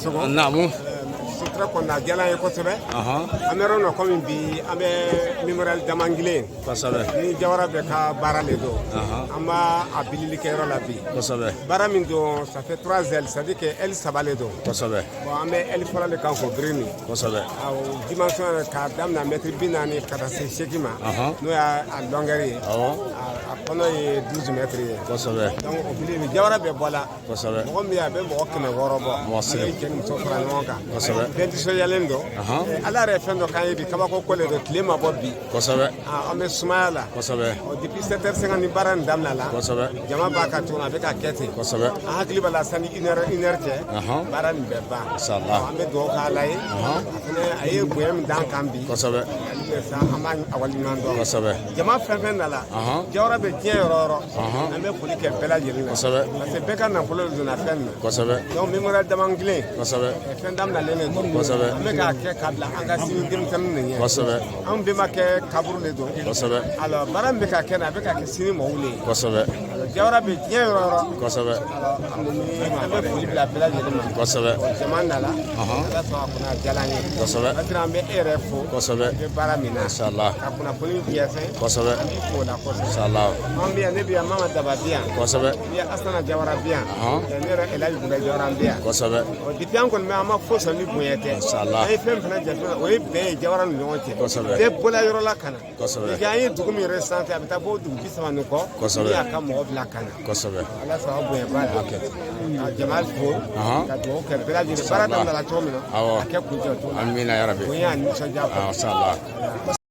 naamu sutura kɔni a diyala ye kosɛbɛ an bɛ yɔrɔ min na kɔmi bi an bɛ memorial damangilen kosɛbɛ nin jawara bɛɛ ka baara le don an b'a a bilili kɛ yɔrɔ la bi kosɛbɛ baara min don ça fait trois ailes c'est à dire que aile saba le don kosɛbɛ bon an bɛ aile fɔlɔ le kan k'o biri nin kosɛbɛ awɔ dimension yɛrɛ k'a daminɛ mɛtiri bi naani ka taa se seegin ma n'o y'a longueur ye a kɔnɔ ye douze mètres ye kosɛbɛ donc o bili jawara bɛɛ bɔla kosɛbɛ mɔgɔ min bɛ a bɛ mɔgɔ kɛmɛ wɔɔrɔ bɔ mɔgɔ sɛgɛn ale cɛ ni muso fara ɲɔgɔn kan kosɛbɛ bɛɛ nisɔndiyalen don ala yɛrɛ ye fɛn dɔ k'an ye bi kabako ko le don tile ma bɔ bi kosɛbɛ an bɛ sumaya la kosɛbɛ ɔ depuis sept heures cinquante ni baara nin daminɛla kosɛbɛ jama b'a kan tuguni a bɛ ka kɛ ten kosɛbɛ an hakili b'a la sanni une heure cɛ baara nin bɛ ban an bɛ dugawu k'ala ye a fɛnɛ a ye bonya min d'an kan bi kosɛbɛ an b'a waleɲuman dɔn kosɛbɛ jama fɛn fɛn nana jawara bɛ diɲɛ yɔrɔ yɔrɔ an bɛ foli kɛ bɛɛ lajɛlen na kosɛbɛ parce que bɛɛ ka nafolo le donna fɛn nin na kosɛbɛ donc memorial damangilen kosɛbɛ fɛn daminalen le don kosɛbɛ an bɛ k'a kɛ k'a bila an ka sini denmisɛnninw de ɲɛ kosɛbɛ anw bɛnbakɛ kaburu le don kosɛbɛ alors baara min bɛ ka kɛ na a bɛ ka kɛ sini mɔgɔw le ye kosɛbɛ jawara bɛ diɲɛ yɔrɔ yɔrɔ kosɛbɛ an bɛ foli bila bɛɛ lajɛlen ma kosɛbɛ jama nana ala sɔnna a kunna diyala an ye kosɛbɛ an bɛ e yɛrɛ fo kosɛbɛ i bɛ baara min na inshallah kunnafoni jɛnsɛn kosɛbɛ an b'i fo o la kosɛbɛ inshallah an bi yan ne bi yan mama daba bi yan kosɛbɛ ni asana jawara bi yan ne yɛrɛ elaji buye jawara bi yan kosɛbɛ ɔ depuis an kɔni bɛ an ma foyi sɔrɔ ni bonya tɛ inshallah an ye fɛn min fana jate o ye bɛn ye jawara ni ɲɔgɔn cɛ kosɛbɛ bɛɛ bɔla yɔrɔ la ka na kosɛbɛ i an ye dugu min recenser a bɛ taa bɔ dugu bi saba ni kɔ kosɛbɛ min y'a ka mɔgɔ bila ka na kosɛbɛ ala sɔn a bonya ba la ka jama fo ka dugawu kɛ bɛɛ lajɛlen baara daminɛna cogo min na a ka kuncɛ cogo min na amina yarabi bonya ani nisɔndiya inshallah